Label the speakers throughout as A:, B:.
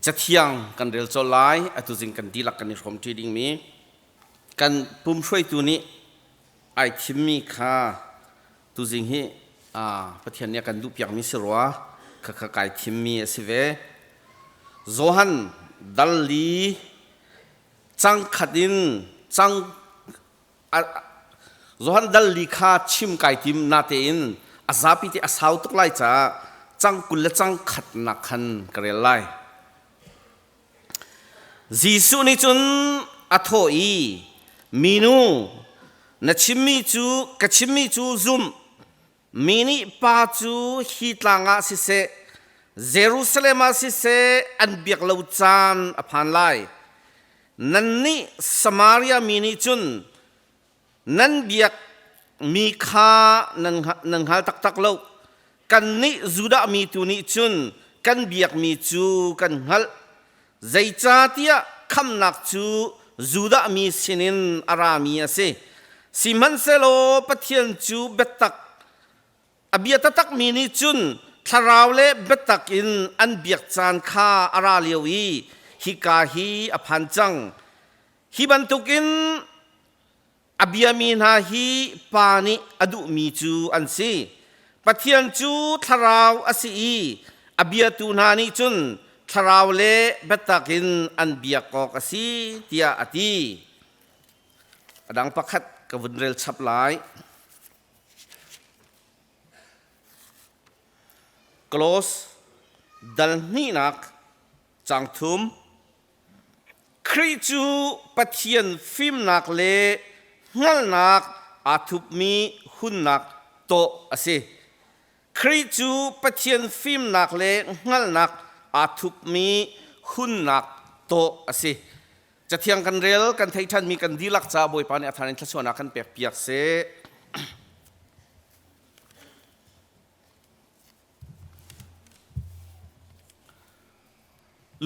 A: Cathiang kan rel colh lai atuzing kan dihlak kan i hrawm ṭi dingmi kan pum hruaitu nih ai thimmi kha tuzing hi Pathian nih a kan duhpiakmi si rua khakha kai thimmi a si ve. Johan dal li cangkhat in cang Johan dal li kha chim kai tim nate in a zapi te a sau tuk lai caah cang kul le cang khatnak khan ka rel lai. Jesuh nih cun a thawh i minu na chimmi cu ka chimmi cu zum Mi nih pa cu hi tlang ah siseh, Jerusalem ah siseh an biak lo caan a phan lai. Nannih Samaria mi nih cun nan biak mi kha na hngal taktak lo. Kannih Judah mi tu nih cun kan biakmi cu kan hngalh. Zeicahtiah khamnak cu Judah mi sinin a rami a si. Sihmanhsehlaw Pathian cu biatak, a bia taktakmi nih cun thlarau le biatak in an biak caan kha a ra lio i hika hi a phan cang. Hi bantukin A biami hna hi pa nih a duhmi cu an si. Pathian cu thlarau a si i a biatu hna nih cun thlarau le biatak in an biak awk a si tiah a ti. A dang pakhat ka vun rel chap lai. Close dal hnihnak cang thum Khrih cu Pathian fimnak le hngalhnak aa thupmi hunnak tawh a si. Khrih cu Pathian fimnak le hngalhnak aa thupmi hunnak tawh a si. Cathiang kan rel, kan thei ṭhanmi kan dihlak caah Bawipa nih a thar in thluachuahnak kan pek piak seh.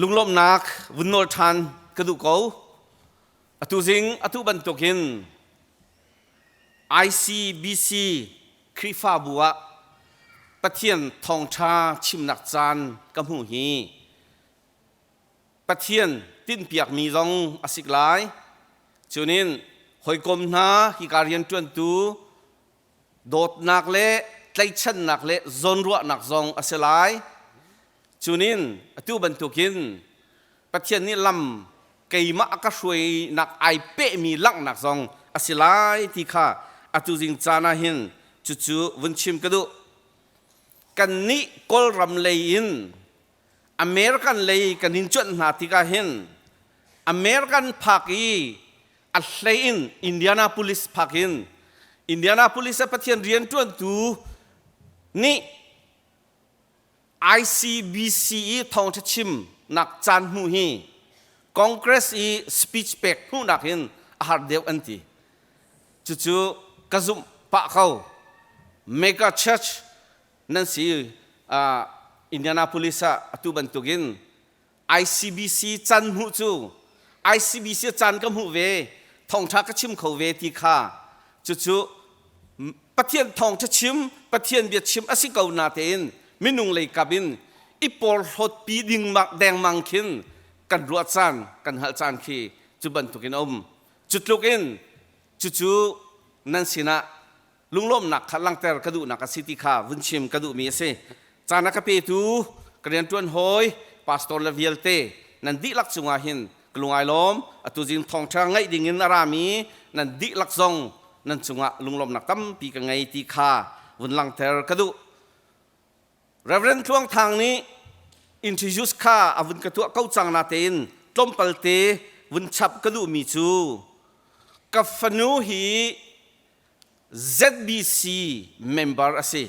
A: Lunglawmhnak vun nawl ṭhan ka duh ko. Atu zing atu bantukin ICBC Khrihfabu ah Pathian thawngṭha chimnak caan ka hmu hi Pathian tinhpiakmi zong a sik lai. Cunin hawikom hna hika rianṭuantu dawtnak le tlaihchannak le zawnruahnak zong a si lai. Cunin atu bantukin Pathian nih lam keimah ka hruainak ai pehmi langhnak zong a si lai ti kha atu zing caan ah hin cucu vun chim ka duh. Kannih Kawlram lei in American lei kan in cuanh hna tikah hin American phak i a hlei in Indianapolis phak in Indianapolis ah Pathian rianṭuantu nih ICBC i thawngṭha chimnak caan hnu hi Congress i speech pek hnunak in a har deuh an ti. Cucu ka zumh pah ko. Mega Church nan si. Indianapolis ah atu bantuk in ICBC can hmuh cu ICBC can ka hmuh ve, thawngṭha ka chim kho ve ti kha cucu Pathian thawngṭha chim, Pathian bia chim a si ko natein minung lei kap in i porhlawtpi dingmang dengmang khin kan ruah caan, kan hngalh caan khi cu bantuk in a um. Cu tluk in cucu nan sinah lunglawmhnak kha langhter ka duhnak a si ti kha vun chim ka duhmi a si. Caan a ka petu ka rianṭuan hawi pastor le vialte, nan dihlak cungah hin ka lungailawm, atu zing thawngṭha ngaih dingin a rami nan dihlak zong nan cungah lunglawmhnak tampi ka ngei ti kha vun langhter ka duh. Reverend Tluang Thang nih introduce kha a vun ka tuah ko cang natein tlawmpal te vun chap ka duhmi cu ka fanu hi ZBC member a si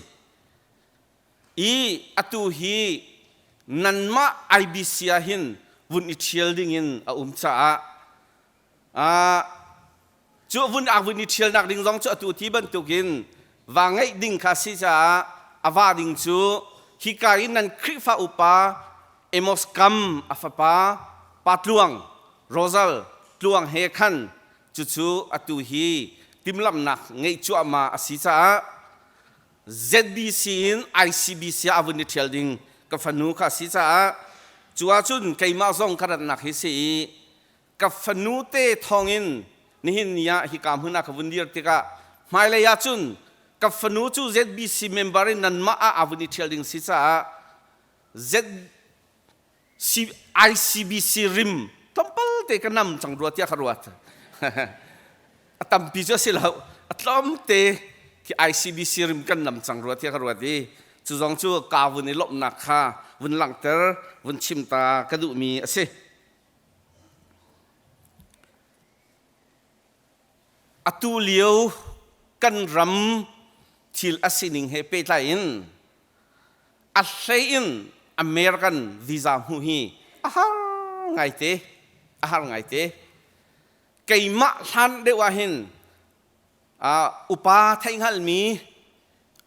A: i atu hi nanmah IBC ah hin vun i ṭhial dingin a um caah cu vun ak vun i ṭhialnak ding zong cu atu ti bantukin va ngeih ding kha si caah a va ding cu hika i nan Khrihfa upa Amos Kam a fapa Pa Tluang Rosal Tluang he khan Cucu atu hi timhlamhnak ngeih cuahmah a si caah ZBC in ICBC ah a vun i ṭhial ding ka fanu kha a si caah cu ahcun keimah zong ka ratnak hi si i ka fanu te thawngin nihin ni ah hika hmun ah ka vun dir tikah hmailei ahcun ka fanu cu ZBC member in nanmah ah a vun i ṭhial ding si caah Z ICBC rim tlawmpal te ka nam cang rua tiah ka ruat a tampi cu a si lo a tlawmte khi ICBC rim kan nam cang rua tiah ka ruat i cu zong cu ka vun i lawmhnak kha vun langhter vun chim ta ka duhmi a si Atu lio kan ram thil a sining he pehtlai in a hlei in American visa hmu hi a har ngaite a har ngaite keimah hlan deuh ah hin uh, upa theihhngalmi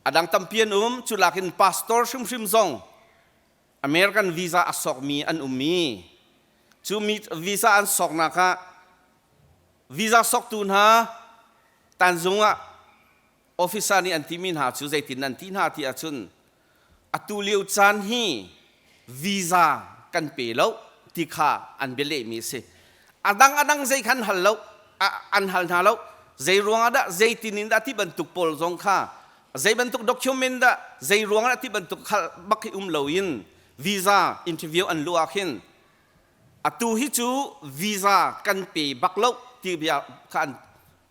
A: a dang tampi an um culakin pastor hrimhrim zong American visa a sawkmi an um i cu visa an sawknak ah visa sawktu hna Tanzung ah officer nih an timi hna cu zeitin nan ti hna ti ahcun atu lio caan hi visa kan pe lo ti kha an bia lehmi a si. A dang a dang zei khan hal lo, an hal hna lo. Zei ruang ah dah, zeitin in dah ti bantuk pawl zong kha Zeibantuk document dah zei ruangah dah ti bantuk hal bak hi um loin visa interview an luh ahkhin atu hi cu visa kan pe bak loh ti bia kha an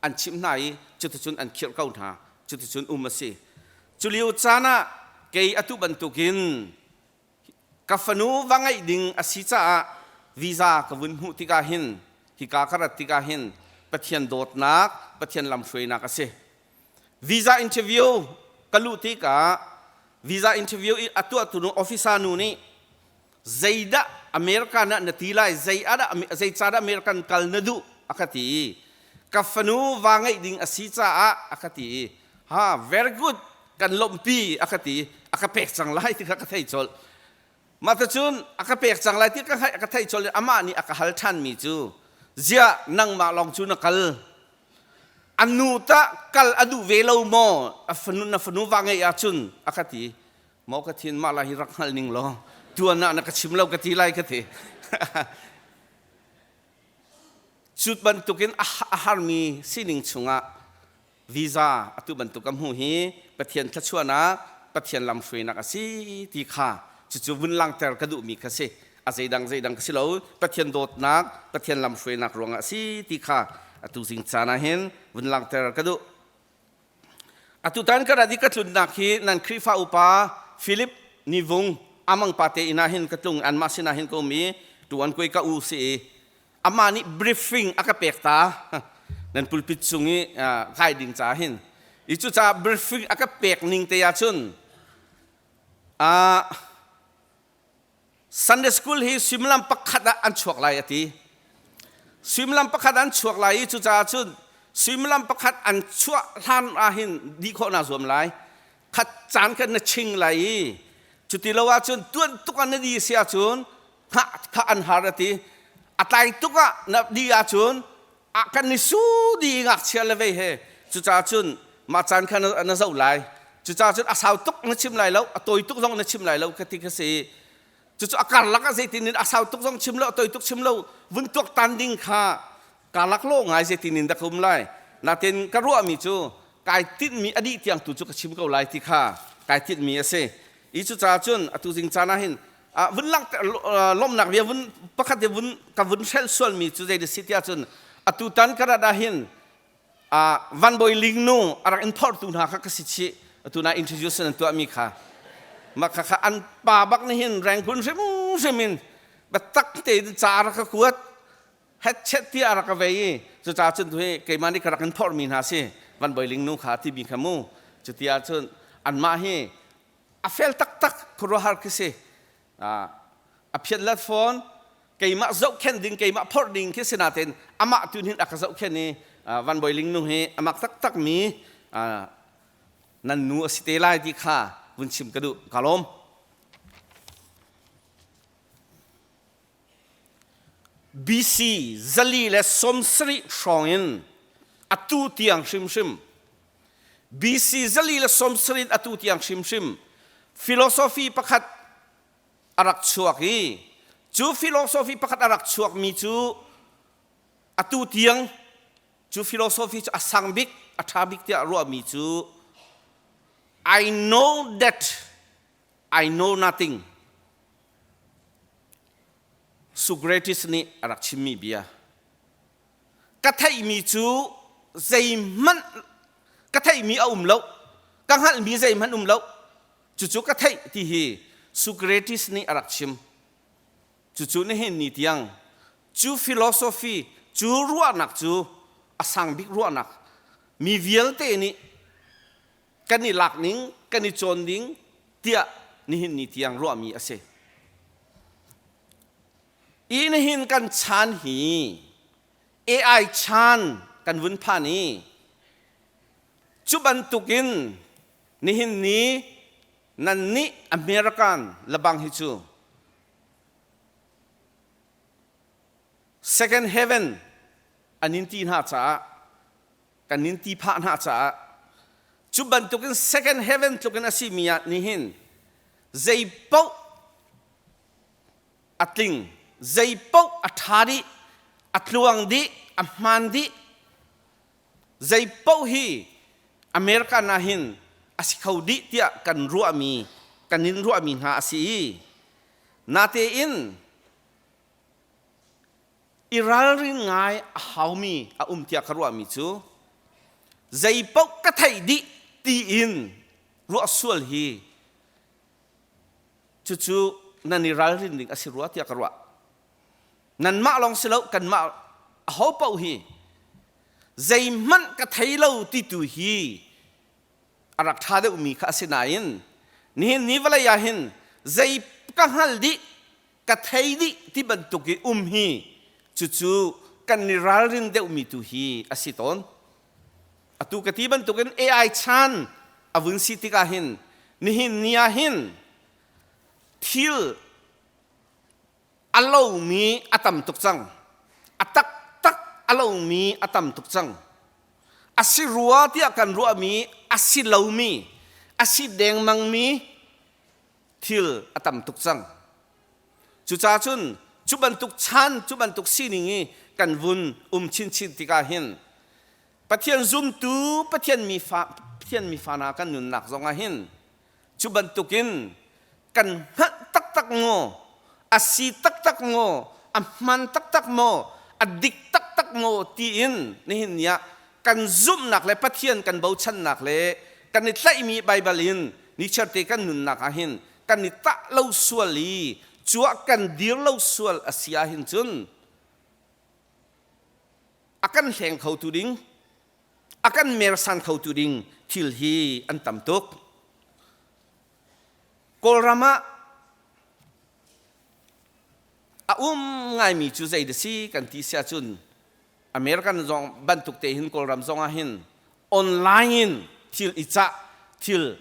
A: an chimh hna i cuticun an khirh ko hna cuticun um a si cu lio caan ah kei atu bantukin ka fanu va ngeih ding a si caah visa ka vun hmuh tikah hin hika ka rat tikah hin Pathian dawtnak Pathian lamhruainak a si visa interview ka luh tikah visa interview i a tuahtu nu officer nu nih zeidah America na na ti lai zei ah zei ca dah America kal na duh a ka ti i ka fanu va ngeih ding a si caah a ka ti i ha very good kan lawmhpi a ka ti a ka pek cang lai ti kha ka thei colh Mah cun a ka pek cang lai ti ka hngalh ka theih colh i amah nih a ka hal ṭhanmi cu ziah nangmah lawng cu na kal a nu tah kal a duh ve lo maw a fanu na fanu va ngeih ahcun a ka ti maw ka thin mah lai hi rak hngal ning law tuan ah na ka chim lo ka ti lai ka ti cut bantukin a harmi sining chungah Visa atu bantuk ka hmuh hi Pathian thluachuahnak, Pathian lamhruainak a si ti kha cucu vun langhter ka duhmi kha si. A zeidang zeidang ka si lo, Pathian dawtnak, Pathian lamhruainak ruangah a si ti kha atu zing caan ah hin vun langhter ka duh. Atutan ka rat i ka tlunnak hi nan Khrihfa upa Philip Nivung Amang Pate inn ah hin ka tlung i anmah sinah hin ka um i tuan kuai ka u si i amah nih briefing a ka pek ta nan pulpit cung i kai ding ca hin i cucaah briefing a ka pek ning te ahcun uh, Sunday school hi suimilam pakhat ah an chuak lai a ti suimilam pakhat an chuak lai i cucaah cun suimilam pakhat an chuah hlan ahhin di khawh na zuam lai khat caan kan na ching lai i cuti lo ahcun tuan tuk an na di si ahcun thah thah an har a ti a tlai tuk ah na di ahcun a kan ni su di ngakchia le vei he cucaah cun mah caan kha na zoh lai cucaah cun a sau tuk na chim lai lo a tawi tuk zong na chim lai lo ka ti ka si cucu a karlak ah zeitin in a sau tuk zong chim lo a tawi tuk chim lo vun tuaktan ding kha kaa laklawh ngai zetin in dah ka um lai. Natin ka ruahmi cu kai tinhmi a dih tiang tu cu ka chim ko lai ti kha kai tinhmi a si. Hi cucaah cun atu zing caan ah hin ah vun lang lomnak bia vun pakhat i vun ka vun hrel sualmi cu zei da si tiah cun atu tan ka rat ah hin uh, Van Bawi Ling nu a rak in phortu hna kha ka si chih atu na introduce nan tuahmi kha ma kha kha an pa bak nih hin rengkun hrimhrim in biatak tein ca rak ka kuat Hetchet tiah a rak ka vei i cucaah cun tu hi keimah nih ka rak in phorhmi hna si Van Bawi Ling nu kha ti mi kha mu. Cuti ahcun anmah hi a fel taktak khuaruahhar khi si. A phiatlet fawn, keimah zohkhenh ding, keimah phorh ding khi si natein amah tu hin a ka zohkhenh i Van Bawi Ling nu hi a mak taktak mi nan nu a si te lai ti kha vun chim ka duh. Ka lawm. BC zali le sawmsarih hrawngin atu tiang hrimhrim BC zali le sawmsarih atu tiang hrimhrim philosophy pakhat a rak chuak i cu philosophy pakhat a rak chuakmi cu atu tiang cu philosophy cu a sang bik a ṭha bik tiah ruahmi cu I know that I know nothing. Socrates nih a rak chimmi bia. Ka theihmi cu zeihmanh ka theihmi a um lo. Ka hngalhmi zeihmanh um lo. Cucu ka theih ti hi Socrates nih a rak chim. Cucu nihin ni tiang cu philosophy cu ruahnak cu a sang bik ruahnak mi vialte nih kan i lak ning kan i cawn ding tiah nihin ni tiang ruahmi a si i nihin kan chan hi ai chan kan vun phan i cu bantukin nihin ni nan nih American labang hi cu second heaven an in ti hna caah kan nin ti phah hna caah cu bantukin second heaven tlukin a simi ah nih hin zei paoh a tling zei paoh a ṭha dih a tluang dih a hmaan dih zei paoh hi america na hin a si kho dih tiah kan ruahmi kan in ruahmi hna a si i natein i ralrin ngai a haumi a um tiah ka ruahmi cu zeipaoh ka theih dih tiin ruah sual hi cucu nan i ralrin ding a si rua tiah ka ruah nanmah lawng si lo kanmah aho paoh hi zeihmanh ka thei lo ti tu hi a rak ṭha deuhmi kha a si nain nihin ni vawlei ah hin zei ka hngal dih ka thei dih ti bantuk i um hi cucu kan i ralrin deuhmi tu hi a si tawn atu ka ti bantukin ai chan a vun si tikah hin nihin ni ah hin thil a lomi a tam tuk cang a taktak a lomi a tam tuk cang a si rua tiah kan ruahmi a si lomi a si dengmangmi thil a tam tuk cang. Cucaah cun cu bantuk chan, cu bantuk sining i kan vun um chinchin tikah hin Pathian zumtu Pathian mi fa, Pathian mi fa hna kan nunnak zongah hin cu bantukin kan hngalh taktak maw? a si taktak maw, a hman taktak maw, a dik taktak maw tiin nihin ni ah kan zumhnak le Pathian kan bochannak le kan i tlaihmi Baibal in nichiarte kan nunnak ah hin kan i tah lo sual i cuah kan dir lo sual a si ah hin cun a kan hleng khotu ding a kan mersan khotu ding thil hi an tam tuk Kawlram ah a um ngaimi cu zei si kan ti si ahcun American zong bantuk te hin Kawlram zong ah hin online in thil i cah thil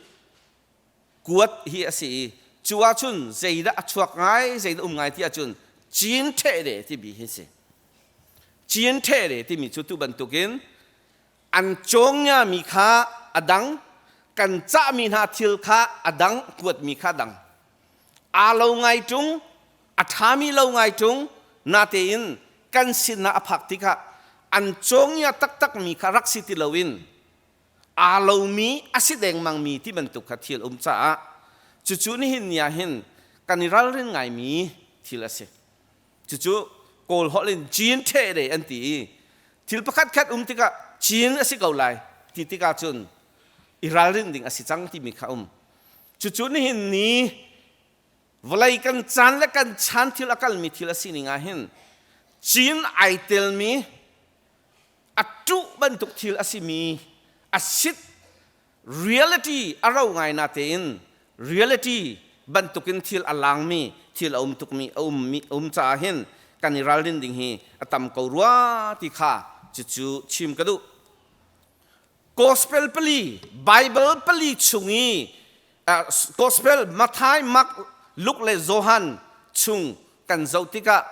A: kuat hi a si i cu ahcun zeidah a chuak ngai zeidah um ngai ti ahcun Chin ṭhehde timi hi si Chin ṭhehde timi cu tu bantukin an congiami kha a dang kan cahmi hna thil kha a dang kuatmi kha a dang aa lo ngai ṭung a ṭhami lo ngai ṭung natein kan sinah a phak tikah an congia taktakmi kha rak si ti loin aa lomi a si dengmangmi ti bantuk kha thil um caah cucu nihin ni ah hin kan i ralrin ngaimi thil a si. Cucu Kawl holh in Chin ṭhehde an ti i thil pakhatkhat um tikah Chin a si ko lai ti tikah cun i ralrin ding a si cang timi kha um. Cucu nihin ni vawlei kan caan le kan chan thil a kalmi thil a sining ah hin Chin ai telmi a ṭuh bantuk thil a simi a sit reality a ro ngai na tein reality bantukin thil a langmi thil a um tukmi a ummi a um caah hin kan i ralrin ding hi a tam ko rua ti kha cucu chim ka duh gospel pali bible pali chung i uh, gospel mathai mark luke le johan chung kan zoh tikah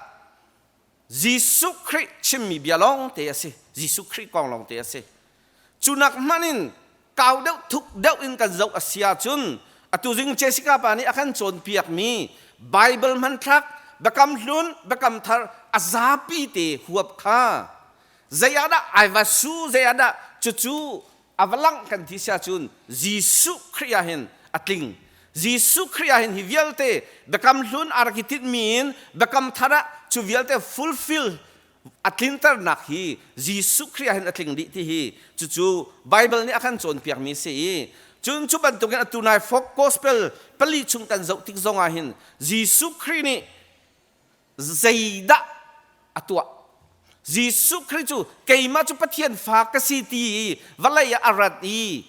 A: Jesuh Khrih chimmi bia lawngte a si. Jesuh Khrih kong lawngte a si. Cu nak hmanh in kau deuh, thuk deuh in kan zoh a si ahcun atu zing Jessica pa nih a kan cawnpiakmi Baibal hmanthlak Biakam Hlun, Biakam Thar a zapi te huap kha zei ah dah ai va su, zei ah dah cucu A va langh kan ti si ahcun Jesuh Khrih ah hin a tling. Jesuh Khrih ah hin hi vialte Biakam Hlun a rak i tinhmi in Biakam Thar ah cu vialte fulfill a tlinternak hi Jesuh Khrih ah hin a tling dih ti hi cucu Baibal nih a kan cawnpiakmi a si i cun cu bantukin atu nai Folk Gospel pali chung kan zoh tik zongah hin Jesuh Khrih nih zeidah a tuah Jesuh Khrist cu keimah cu Pathian fa ka si ti i vawlei ah a rat i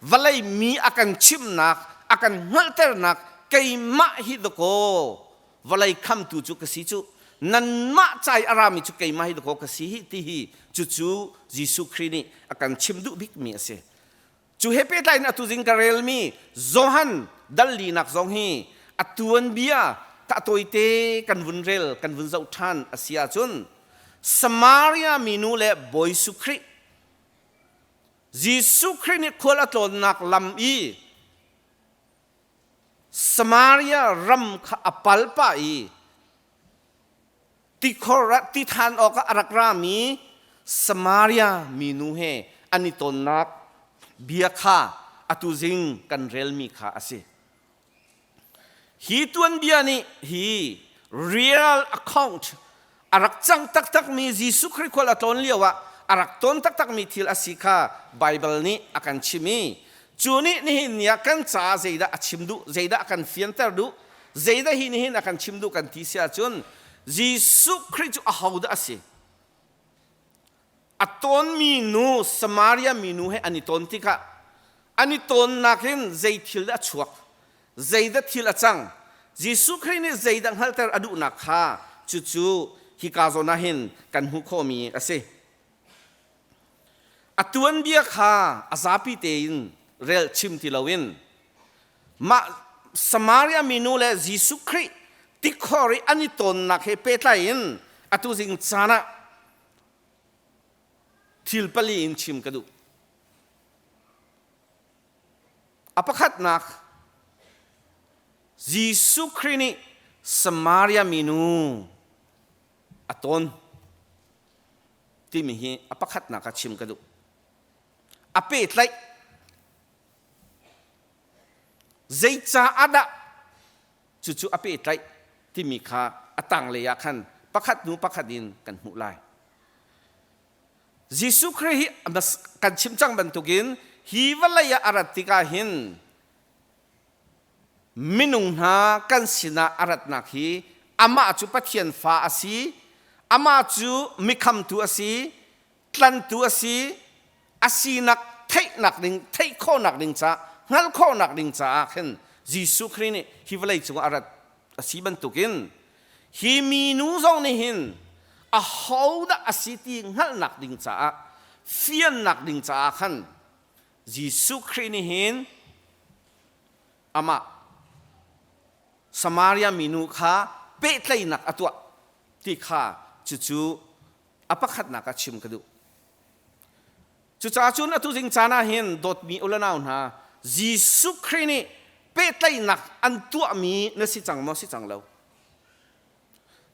A: vawlei mi a kan chimhnak a kan hngalhternak keimah hi dakaw vawlei khamtu cu ka si cu nanmah cai a rami cu keimah hi dakaw ka si hi ti hi cucu Jesuh Khrist nih a kan chim duh bikmi a si cu he pehtlai in atu zing ka relmi Johan dallinak zong hi atuan bia tahtawi te kan vun rel kan vun zoh ṭhan a si ahcun Samaria minu le Bawi Jesuh Khrih Jesuh Khrih nih khual a tlawnnak lam i Samaria ram kha a pal pah i tikhor ah ti than awk ah a rak rami Samaria minu he an i tonnak bia kha atu zing kan relmi kha a si. Hi tuanbia nih hi real account a rak cang taktakmi Jesuh Khrist khual a tlawn lio ah a rak ton taktakmi thil a si kha Bible nih a kan chim i cu nih nihin ni ah kan caah zeidah a chim duh zeidah a kan fianter duh Zeidah hi nihin a kan chim duh kan ti si ahcun Jesuh Khrih cu ahodah a si? A tonmi nu, Samaria mi nu he an i ton tikah an i tonnak in zei thil dah a chuak? Zeidah thil a cang? Jesuh Khrih nih zeidah hngalhter a duhnak kha cucu hika zawn ah hin kan hmuh khawhmi a si. A tuanbia kha a zapi tein relchim ti loin Mah Samaria minu le Jesuh Khrih tikhor i an i tonnak he pehtlai in atu zing caan ah thil pali in chim ka duh. A pakhatnak, Jesuh Khrih nih Samaria minu a ton timi hi a pakhatnak ah chim ka duh. A pehtlaih Zeicah dah cucu a pehtlaih timi kha a tanglei ah khan pakhat hnu pakhat in kan hmuh lai. Jesuh Khrih hi kan chim cang bantukin hi vawlei ah a rat tikah hin minung hna kan sinah a ratnak hi amah cu Pathian fa a si, amah cu mi khamtu a si, tlantu a si a sinak theihnak ding theih khawhnak ding caah hngalh khawhnak ding caah khin Jesuh Khrih nih hi vawlei cungah a rat a si bantukin hi minu zong nih hin ahodah a si ti hngalhnak ding caah fiannak ding caah khan Jesuh Khrih nih hin amah Samaria minu kha pehtlaihnak a tuah ti kha cucu a pakhatnak ah chim ka duh. Cucaah cun atu ding caan ah hin dawtmi ulanau hna, Jesuh Khrih nih pehtlaihnak an tuahmi na si cang maw si cang lo?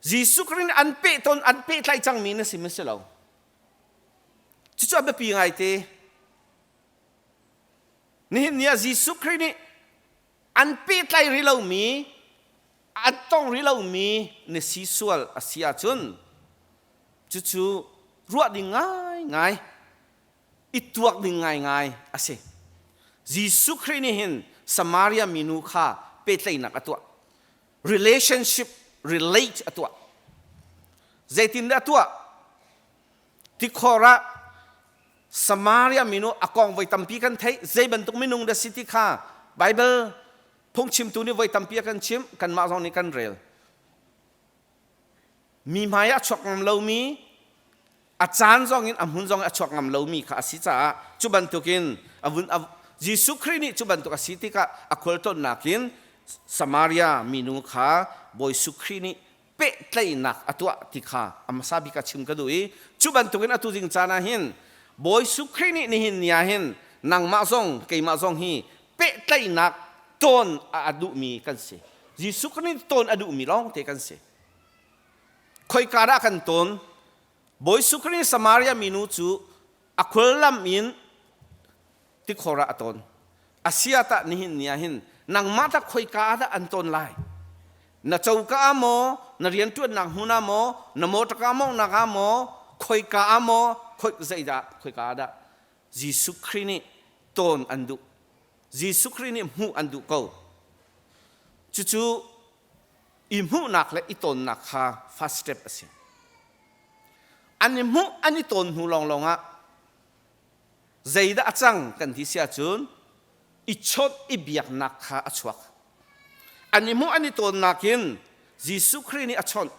A: Jesuh Khrih nih an pehton an pehtlaih cangmi na si maw si lo? Cucu a biapi ngaite. Nihin ni ah Jesuh Khrih nih an pehtlai rih lomi an tong rih lomi na si sual a si ahcun cucu ruah ding ngaingai i tuak ding ngaingai a si jesuh khrih nih hin samaria minu kha pehtlaihnak a tuah relationship relate a tuah zeitindah a tuah Tikhor ah Samaria minu a kong voi tampi kan theih. Zei bantuk minung dah si ti kha Baibal phungchimtu nih voi tampi a kan chimh. Kanmah zong nih kan rel. Mi hmai a chuak ngam lomi, a caan zong in a hmun zong in a chuak ngam lomi kha a si caah cu bantukin a vun a, Jesuh Khrih nih cu bantuk a si tikah a khualtlawnnak in Samaria minu kha Bawi Jesuh Khrih nih pehtlaihnak a tuah ti kha a hmasa bik ah chim ka duh i cu bantukin atu ding caan ah hin Bawi Jesuh Khrih nih nihin ni ah hin nangmah zong keimah zong hi pehtlaihnak ton a duhmi kan si. Jesuh Khrih nih ton a duhmi lawngte kan si. Khoika dah kan ton? Bawi Jesuh Khrih Samaria minu cu a khual lam in tikhor ah a ton. Asia tah nihin ni ah hin nangmah tah khoika ah dah an ton lai? Na coka ah maw, na rianṭuannak hmun ah maw, na motor ka mawnghnak ah maw, khoika ah maw, zeidah khoika ah dah Jesuh Khrih nih ton an duh? Jesuh Khrih nih hmuh an duh ko. Cucu i hmuhnak le i tonnak kha first step a si. An i hmuh, an i ton hnu lawnglawng ah zeidah a cang kan ti si ahcun i chawnh i biaknak kha a chuak. An i hmuh, an i tonnak in Jesuh Khrih nih a chawnh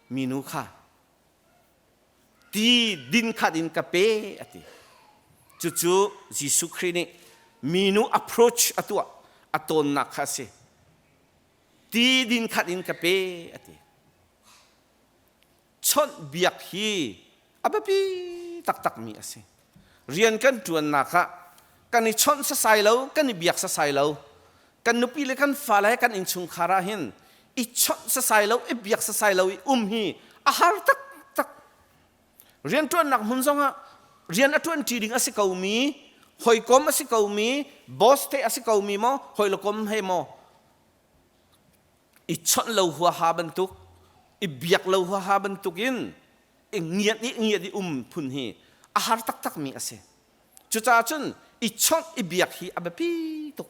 A: minu kha ti din khat in ka pe a ti. Cucu Jesuh Khrih nih minu approach a tuah, a tonnak kha a si. ti din khat in ka pe a ti chawnh biak hi a biapi taktakmi a si rian kan ṭuannak ah kan i chawnh sasai lo kan i biak sasai lo kan nupi le kan fale kan innchungkhar ah hin i chawnh sasai lo i biak sasai lo i um hi a har taktak rianṭuannak hmun zongah rian a ṭuanṭi ding a si komi hawikom a si komi boss te a si komi maw hawile kom he maw i chawnh lo huaha bantuk i biak lo huaha bantukin i ngiat i ngiat i um phun hi a har taktakmi a si cucaah cun i chawnh i biak hi a biapi tuk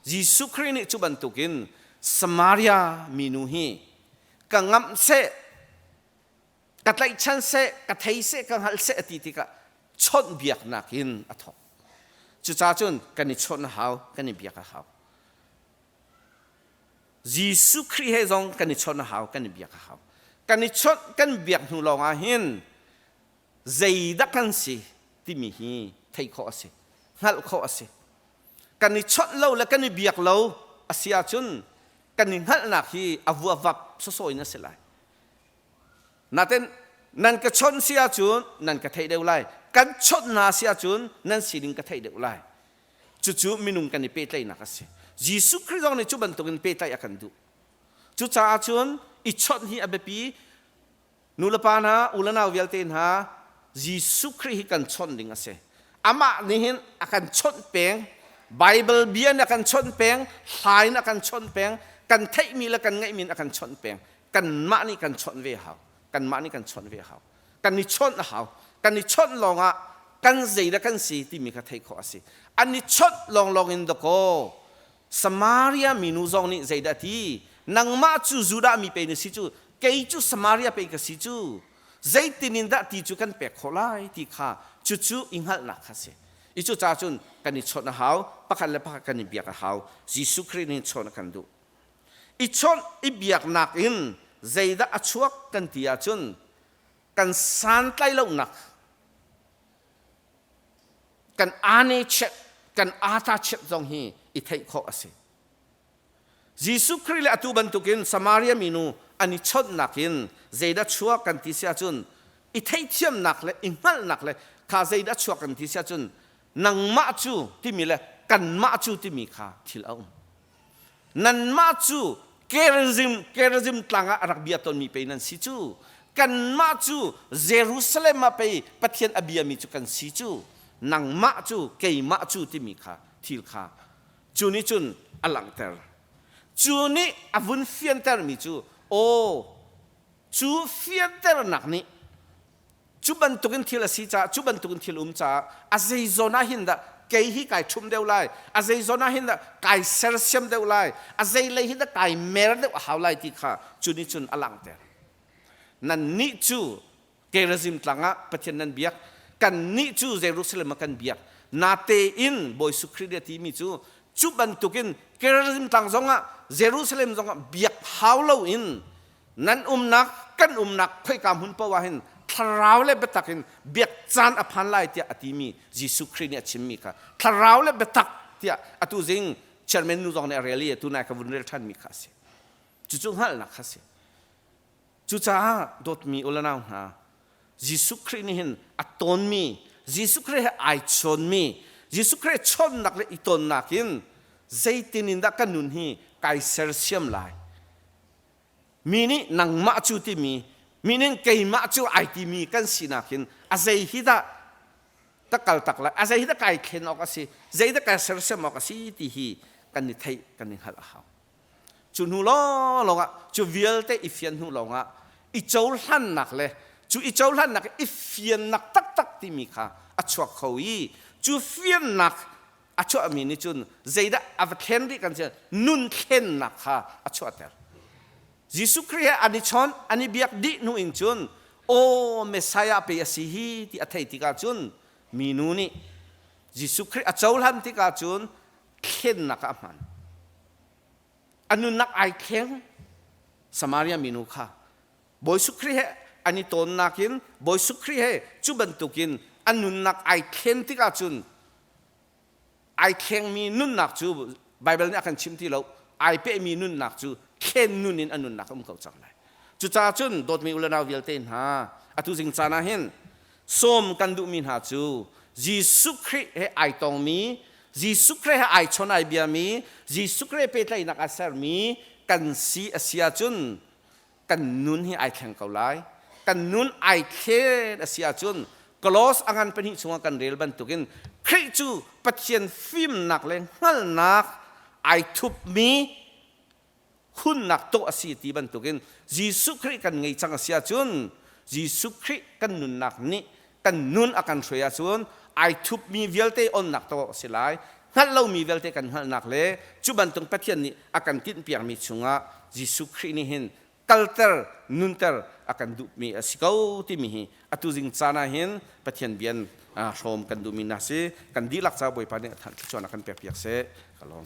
A: Jesuh Khrih nih cu bantukin Samaria minu hi ka ngamh seh ka tlaihchan seh ka thei seh ka hngalh seh a ti tikah chawnhbiaknak in a thawk cucaah cun kan i chawn a hau kan i biak a hau Jesuh Khrih he zong kan i chawn a hau kan i biak a hau kan i chawnh kan biak hnu lawng ah hin zeidak kan si timi hi theih khawh a si hngalh khawh a si kan i chawnh lo le kan i biak lo a si ahcun kan i hngalhnak hi a vuavak soso in a si lai Natin nan ka chawnh si ahcun nan ka theih deuh lai. Kan chawnh hna si ahcun nan sining ka theih deuh lai. Cucu minung kan i pehtlaihnak a si. Jesuh Khrih zong nih cu bantukin pehtlaih a kan duh. Cucaah cun i chawnh hi a biapi. Nulepa hna, unanau vialte hna, Jesuh Khrih hi kan chawnh ding a si. Amah nih hin a kan chawnh peng. Baibal bia nih a kan chawnh peng. Hla in a kan chawnh peng. Kan theihmi le kan ngeihmi in a kan chawnh peng. kanmah nih kan chawnh ve hau kanmah nih kan chawnh ve hau kan i chawnh a hau kan i chawnh lawngah kan zei le kan si timi kha theih khawh a si an i chawnh lawnglawng in dakaw Samaria minu zong nih zeidah ti nangmah cu Judah mi pei na si cu kei cu Samaria pei ka si cu zeitin in dah ti cu kan pek khawh lai ti kha cucu i hngalhnak kha a si i cucaah cun kan i chawnh a hau pakhat le pakhat kan i biak a hau Jesuh Khrih nih chawn a kan duh i chawnh i biaknak in zeidah a chuak kan ti ahcun kan santlai lonak kan ane chiat kan ata chiat zong hi i theih khawh a si Jesuh Khrih le atu bantukin Samaria minu an i chawnhnak in zeidah chuak kan ti si ahcun i theithiamnak le i hngalhnak le kha zeidah chuak kan ti si ahcun nangmah cu timi le kanmah cu timi kha thil a um Nanmah cu Gerizim tlang ah a rak bia tawnmi pei nan si cu. Kanmah cu Jerusalem ah pei Pathian a biami cu kan si cu. Nangmah cu keimah cu timi kha thil kha cu nih cun a langhter. Cu nih a vun fiantermi cu, Aw, cu fianternak nih cu bantukin thil a si caah cu bantukin thil um caah a zeizawn ah hin dah kei hi kai ṭhum deuh lai a zeizawn ah hin dah kai sersiam deuh lai a zeilei hin dah kai mer deuh a hau lai ti kha cu nih cun a langter nannih cu Gerazim tlang ah Pathian nan biak kannih cu Jerusalem ah kan biak natein Bawi Jesuh Khrih nih a timi cu cu bantukin Gerazim tlang zongah Jerusalem zongah biak hau loin nan umnak kan umnak khoika hmun paoh ah hin thlarau le biatak in biak caan a phan lai tiah a timi Jesuh Khrih nih a chimmi kha thlarau le biatak tiah atu zing chairman nu zong nih a rel i atu nai ka vun rel ṭhanmi kha a si cucu hngalhnak kha a si cucaah dawtmi ulanau hna Jesuh Khrih nih hin a tawnmi Jesuh Khrih he ai chawnmi Jesuh Khrih he chawnnak le i tonnak in zeitin in dah kan nun hi kai sersiam lai Mi nih nangmah cu timi meaning keimah cu ai timi kan sinak hin a zei hi dah ta kal tak lai a zei hi dah kai thlen awk a si zei dah kai sersiam awk a si ti hi kan i theih kan i hngalh a hau cu hnu lawng ah cu vialte i fian hnu lawng ah i cohlannak le cu i cohlannak i fiannak taktak timi kha a chuak kho i cu fiannak a chuahmi nih cun zeidah a va thlen rih kan si nun thlennak kha a chuahter. Jesuh Khrih he an i chawnh, an i biak dih hnu in cun Aw, Messiah pei a si hi ti a theih tikah cun minu nih Jesuh Khrih a cohlan tikah cun thlennak ah a hman. A nunnak ai thleng Samaria minu kha Bawi Khrih he an i tonnak in Bawi Khrih he cu bantukin a nunnak ai thlen tik ahcun ai thlengmi nunnak cu Baibal nih a kan chim ti lo ai pehmi nunnak cu thlen nun in a nunnak a um ko cang lai. Cucaah cun dawtmi unau vialte hna, atu zing caan ah hin sawm kan duhmi hna cu Jesuh Khrih he ai tongmi, Jesuh Khrih he ai chon ai biami, Jesuh Khrih he pehtlaihnak a sermi kan si a si ahcun kan nun hi ai thleng ko lai kan nun ai thlen a si ahcun klos a ngan pahnih chungah kan rel bantukin Khrih cu Pathian fimnak le hngalhnak ai thupmi hunnak tuah a si ti bantukin Jesuh Khrih kan ngei cang a si ahcun Jesuh Khrih kan nunnak nih kan nun a kan hruai ahcun ai thupmi vialte onnak tawk a si lai. Hngalh lomi vialte kan hngalhnak le cu bantuk Pathian nih a kan tinhpiakmi chungah Jesuh Khrih nih hin kalter, nunter a kan duhmi a si ko timi hi atu zing caan ah hin Pathian bian hrawm kan duhmi hna si kan dihlak caah Bawipa nih a thanh thluachuahnak kan pekpiak seh ka lawm.